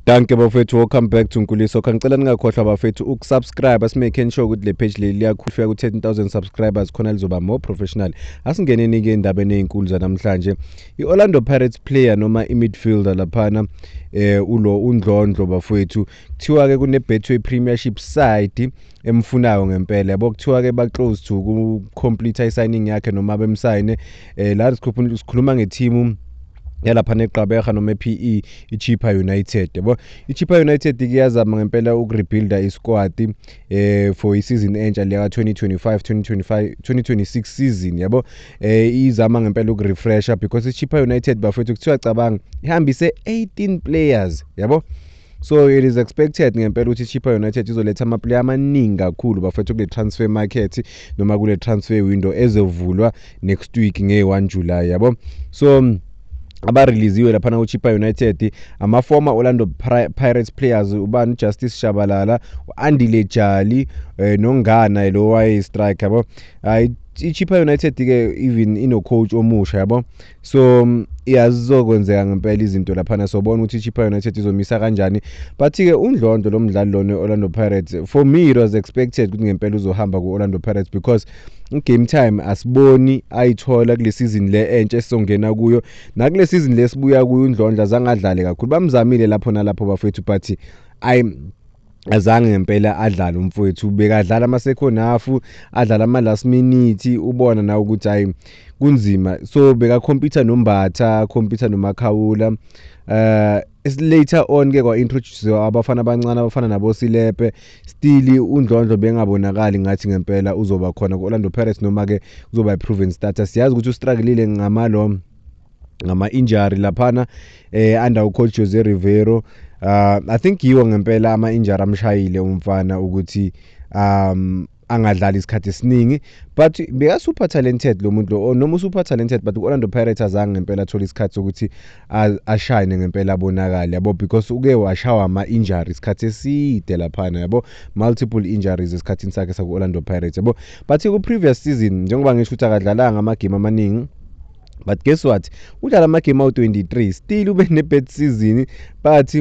Danke bafethu welcome back to Nkuliso kha ngicela ningakhohlwa bafethu ukusubscribe asimake sure ukuthi le page leli liyakhulufika ku 13000 subscribers khona lizoba more professional asingeneni ke endabeni ezinkulu zanamhlanje iOrlando Pirates player noma imidfielder laphana eh ulo undlondlo bafethu kuthiwa ke kune Betway Premiership side emfunayo ngempela yabo kuthiwa ke ba close to ku complete i signing yakhe noma bemsayine eh la sikhuluma nge team yalapha neqabeha noma ePE iChippa United yabo iChippa United iyazama ngempela ukurebuilda isquad eh for isizini entsha leya 2025 2025 2026 season yabo eh izama ngempela ukurefresha because iChippa United bafethu kuthiwa cabanga ihambise 18 players yabo so it is expected ngempela ukuthi ichippa united izoletha amaplayer amaningi kakhulu bafethu kule transfer market noma kule transfer window ezovulwa next week nge-1 july yabo so abareleasiwe laphana kuchipa united ama-former orlando pirates players ubani ujustice shabalala u-andile jali um nongana lo wayeyi-strike yabo um ichipa united-ke even inocoach omusha yabo so mm, ya zizokwenzeka ngempela izinto laphana sobona ukuthi ichippa united izomisa kanjani but-ke undlondlo lo mdlali lona i-orlando pirates for me it was expected ukuthi ngempela uzohamba ku-orlando pirates because game time asiboni ayithola kule season le entsha esizongena kuyo nakule season le sibuya kuyo undlondla zangadlale kakhulu bamzamile lapho nalapho bafethu but ayi azange ngempela adlale umfowethu bekadlala ama second half adlala ama last minute ubona nawe ukuthi hayi kunzima so beka computer nombatha computer nomakhawula uh later on ke kwa introduce abafana abancane abafana nabo Silepe still undlondlo bengabonakali ngathi ngempela uzoba khona ku Orlando Pirates noma ke uzoba proven starter siyazi ukuthi ustrugglile ngamalo ngama injury laphana eh under ucoach Jose Rivero uh, I think yiwo ngempela ama injury amshayile umfana ukuthi um angadlali isikhathi esiningi but beka super talented lo muntu lo noma super talented but ku-orlando pirates azange ngempela athole isikhathi sokuthi ashayine ngempela abonakale yabo because uke washawa ama-injury isikhathi eside laphana yabo multiple injuries esikhathini sakhe saku-orlando pirates yabo but ku-previous season njengoba ngisho ukuthi akadlalanga amagame amaningi but guess what udlala amagame awu-23 still ube ne-bad season but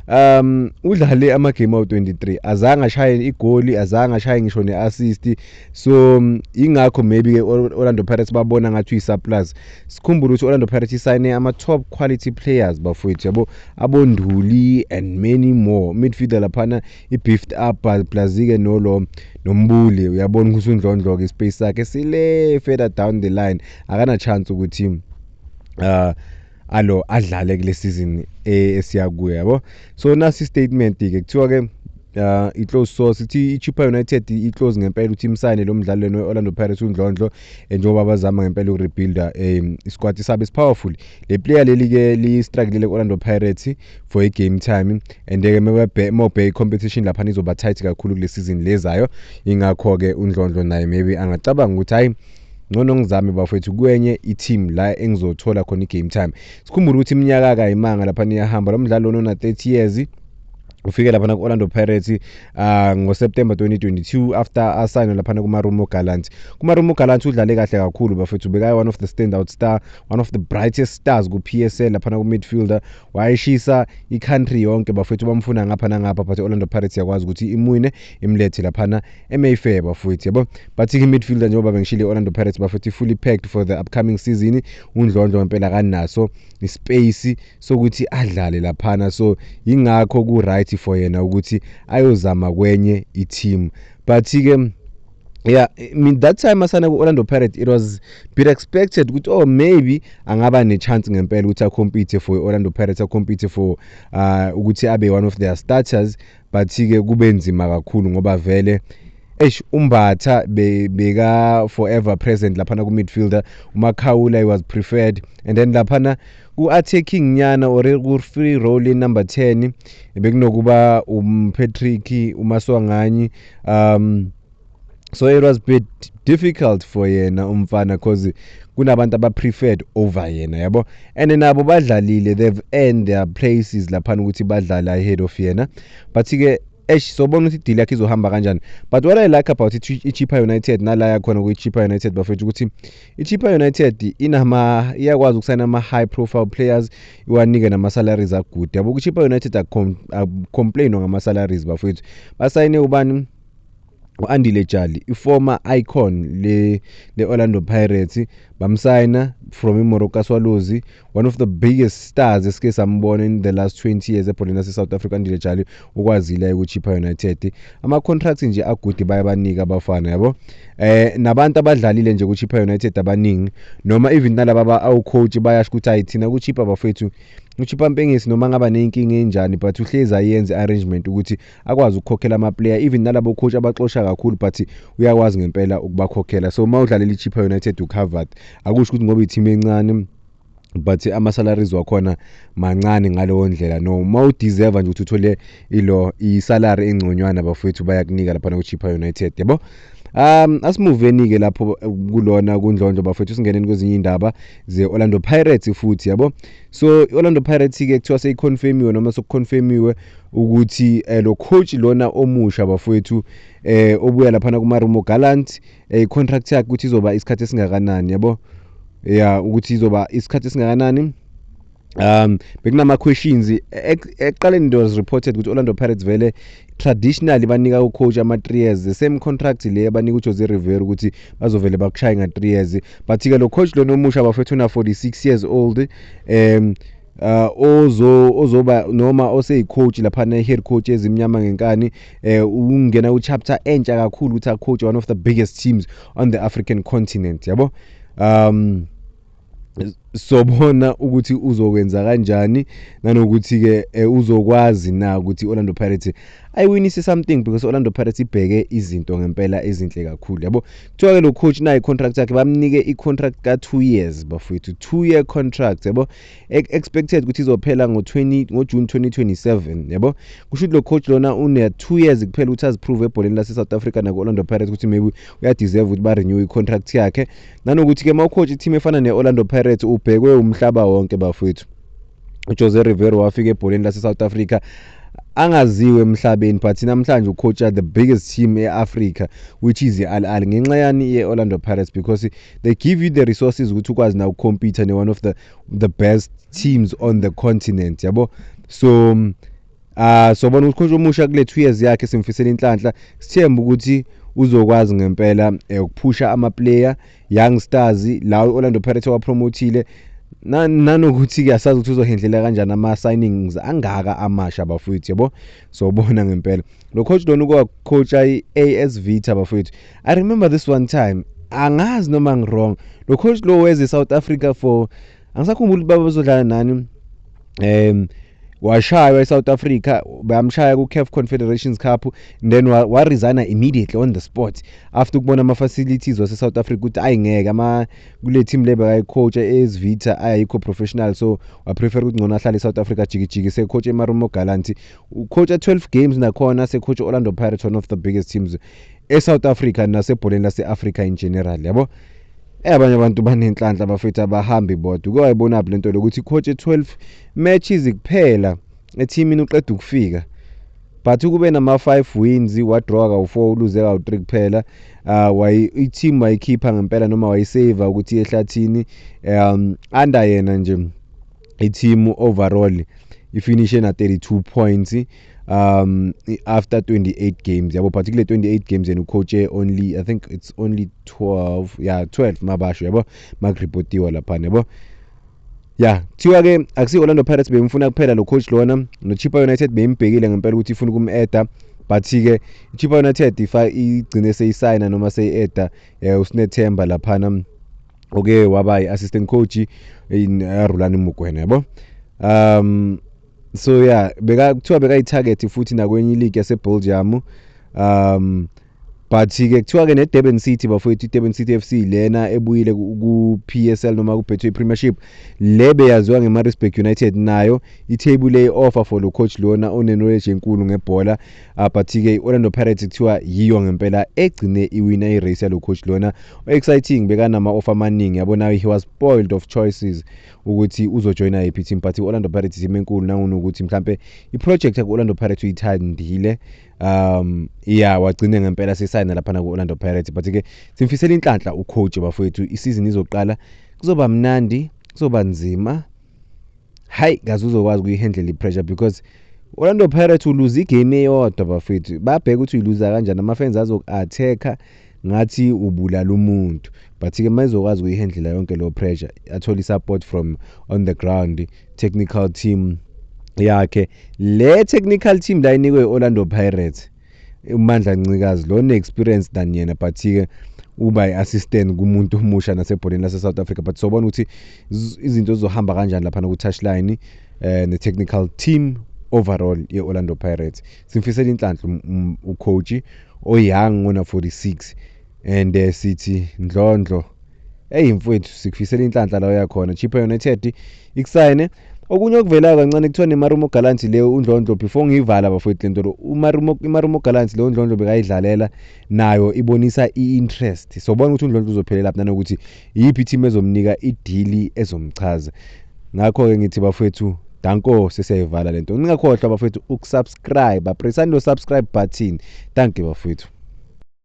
um udlale amagame awu-23 azange ashaye igoli azange ashaye ngisho ne-assist so um, yingakho maybe-ke orlando pirates babona ngathi uyi-surplus sikhumbule ukuthi orlando pirates isayine ama-top quality players bafowethu yabo abonduli and many more midfielder laphana i-beefed up plazike nolo nombuli uyabona ukuthi undlondloke ispace sakhe sile further down the line akana chance ukuthi uh alo adlale kule season e, esiya kuyo yabo so nasi statement ke kuthiwa ke uh, i-close source ithi i-chippa united i-close ngempela ukuthi imsayine lo mdlali leni we-orlando pirates undlondlo eh, njengoba bazama ngempela ukurebuilda um eh, isikwati sabo esipowerful le player leli-ke liyistrakelile ku-orlando pirates for i-game time and-ke mobay competition lapha nizoba tight kakhulu kule sizini lezayo ingakho-ke undlondlo naye maybe angacabanga ukuthi hhayi ngcono ngizame bafethu kwenye i-team la engizothola khona i-game time sikhumbule ukuthi iminyaka kayimanga lapha niyahamba lo mdlali lona una-30 years ufike lapha ku-orlando pirates uh, ngoseptember 2022 after asayine laphana kumarumo gallant kumarumo gallant udlale kahle kakhulu bafethu bekaye one of the standout star one of the brightest stars ku-psl laphana ku-midfielder wayeshisa i-country yonke bafethu bamfuna ngapha nangapha but i-orlando pirates yakwazi ukuthi imwine imlethe laphana emayfair bafethu yabo but i-midfielder njengoba bengishile i-orlando pirates bafethu fully packed for the upcoming season undlondlo ngempela kanaso ispace sokuthi adlale laphana so yingakho ku right for yena ukuthi ayozama kwenye i team but ke yeah I mean that time asana ku-orlando pirates it was bit expected ukuthi oh maybe angaba ne-chance ngempela ukuthi acompete for i-orlando pirates acompete for uh, ukuthi abe one of their starters but-ke kube nzima kakhulu ngoba vele eish umbatha beka forever present laphana ku-midfielder umakhawula he was preferred and then laphana U-attacking nyana or ku-free role inumber 10 bekunokuba umpatrick umaswanganyi um so it was bit difficult for yena umfana cause kunabantu abapreferred over yena yabo and nabo badlalile they've earned their places laphana ukuthi badlale ahead of yena but-ke esh sobona ukuthi idili yakhe izohamba kanjani but what i like about ichipa united nala yakhona kwichipa united bafethu ukuthi ichippa united inama iyakwazi ukusayina ama-high profile players iwanike nama-salaries agude yabo kuchippa united akucomplainwa ngama-salaries bafowethu basayine ubani u-andile jali i-former icon le-orlando pirates bamsayina from imoroka swalozi one of the biggest stars esike sambona in the last 20 years ebholeni lase-south africa ndile jali ukwazile ukuchipha united ama-contract nje agudi baye banika abafana yabo eh nabantu abadlalile nje kuchipha united abaningi noma even nalaba ba-awcoach bayasho ukuthi hayi thina kuchipha bafethu uchipa mpengesi noma ngaba neyinkinga enjani but uhlezi ayenze arrangement ukuthi akwazi ukukhokhela amaplayer even nalabo coach abaxosha kakhulu but uyakwazi ngempela ukubakhokhela so uma udlalela ichippa united ucovered akusho ukuthi ngoba ithimu encane but ama-salaries wakhona mancane ngaleyo ndlela no uma udeserve nje ukuthi uthole ilo isalary engconywana bafowethu bayakunika laphana kuchippa united yabo Um asimuveni-ke lapho eh, kulona kundlondlo bafethu singeneni kwezinye iy'ndaba ze-orlando pirates futhi yabo so i-orlando pirates-ke kuthiwa seyiconfirmiwe noma sekuconfirmiwe ukuthi eh, lo coach lona omusha bafowethu eh obuya laphana kumarumo gallant eh, i-contract yakhe ukuthi izoba isikhathi esingakanani yabo ya ukuthi izoba isikhathi esingakanani um bekunama-questions E- ek- ekuqaleni it was reported ukuthi orlando pirates vele traditionally banika ucoach ama-three years the same contract le abanika ujose river ukuthi bazovele bakushaye nga-three years but-ke lo coach lona omusha bafethu una-46 years old um uh, ozo ozoba noma oseyicoach lapha ne-head coach ezimnyama ngenkani eh ungena ku-chapter entsha kakhulu ukuthi acoach one of the biggest teams on the african continent yabo um sobona ukuthi uzokwenza kanjani nanokuthi-ke eh, uzokwazi na ukuthi i-orlando pirates ayiwinise something because i-orlando pirates ibheke izinto ngempela ezinhle kakhulu yabo kuthiwa ke lo coach nayo i-contract yakhe bamnike i-contract ka-two years bafowethu two year contract yabo expected ukuthi izophela ngo-june 2027 yabo kusho ukuthi lo coach lona une-two years kuphela ukuthi aziprove ebholeni lase-south africa naku-orlando pirates ukuthi maybe uyadeserve ukuthi ba-renew i-contract yakhe nanokuthi-ke uma ucoach i-team efana ne-orlando pirates ubhekwe umhlaba wonke bafowethu ujose rivero wafika ebholeni lase-south africa angaziwe emhlabeni but namhlanje ucoacha the biggest team e-africa which is i-al al ngenxa yani ye-orlando pirates because they give you the resources ukuthi ukwazi na ukukhompyutha ne-one of the, the best teams on the continent yabo so um, uh, sobona ukuthi coach omusha kule two years yakhe simfisela inhlanhla sithemba ukuthi uzokwazi ngempela eh, ukuphusha amaplayer Young Stars la Orlando Pirates wapromothile nanokuthi ke asazi ukuthi uzohendlela kanjani ama signings angaka amasha bafowethu yabo sobona ngempela lo coach lona uko coach i AS Vita bafowethu i remember this one time angazi noma ngirong lo coach lo weze South Africa for angisakhumbuli baba bezodlala nani um washaywa e-south africa bayamshaya ku-caf confederations cup then waresigna immediately on the spot after ukubona ama-facilities wase-south africa ukuthi ayi ngeke ama kule team le bekayicoacha ezivita ayayikho professional so waprefer ukuthi ngcono ahlale e-south africa jikijiki secoach emarumo galanti ucoacha 12 games nakhona secoach orlando pirates one of the biggest teams e-south africa nasebholeni lase-africa in general yabo Eh abanye abantu banenhlanhla bafethu abahambi bodwa. Uke wayibonaphi lento lokuthi coach 12 matches kuphela ethimini uqeda ukufika. But ukube nama 5 wins wadraw kawu4 uluze kawu3 kuphela. Uh wayi i-team wayikhipha ngempela noma wayisave ukuthi ehlathini um under yena nje i-team overall ifinishe na 32 points um after 28 games yabo but kule 28 games and ucoache only i think it's only 12 yeah 12 mabasho yabo makuripotiwa laphana yabo ya kuthiwa ke akusi-orlando pirates beyimfuna kuphela lo coach lona nochipa united beyimbhekile ngempela ukuthi ifuna ukum-eda but-ke ichipa united igcine seyisayina noma seyi-eda um eh, usinethemba laphana oke waba yi-assistant coach in eh, rulani mugwena yabo um so ya yeah, beka kuthiwa bekayitarget futhi nakwenye iligi yasebelgium um but-ke kuthiwa-ke ne-durban city bafowethu i-durban city f c lena ebuyile ku-p s l noma kubetway premiership le beyaziwa nge-marisburg united nayo ithebule i-offer for lo coach lona onenoleji enkulu ngebhola uh, but-ke i-orlando pirates kuthiwa yiyo ngempela egcine iwina i-race yalo coach lona o-exciting bekanama-offer amaningi yabonayo he was spoiled of choices ukuthi uzojoyina yiphi team but i-orlando pirates team enkulu nangunokuthi mhlampe iproject yaku-orlando pirates uyithandile um ya wagcine ngempela sesayina laphana ku-orlando pirates but-ke simfisela inhlanhla ucoach bafowethu isizini izoqala kuzoba mnandi kuzoba nzima hayi kaze uzokwazi ukuyihandlela i-pressure because orlando pirates uluze igame eyodwa bafethu babheke ukuthi uyiluza kanjani ama-fans azoku-attack-a ngathi ubulala umuntu but ke mayizokwazi ukuyihandlela yonke lo pressure athole support from on the ground technical team yakhe le technical team la inikwe Orlando Pirates uMandla Ncikazi lo ne experience than yena but ke uba i-assistant kumuntu omusha nasebholeni lase-south africa but sobona ukuthi izinto zizohamba kanjani laphana ku-touchline um eh, ne-technical team overall ye-orlando pirates simfisela inhlanhla um, um, ucoach oyoung ona 46 and uh, sithi ndlondlo eyi mfowethu sikufisela inhlanhla la uyakhona chippa united ikusayine okunye okuvelayo kancane kuthiwa nemarumo galant leyo undlondlo before ngiyivala bafowethu le ntolo imarumo galant leyo undlondlo bekayidlalela nayo ibonisa i-interest sobona ukuthi undlondlo uzophelela phi nanokuthi Iyiphi team ezomnika idili ezomchaza? Ngakho-ke ngithi bafethu danko sesiyayivala le nto. Ningakhohlwa bafethu ukusubscribe, presani lo subscribe button. Danke bafethu.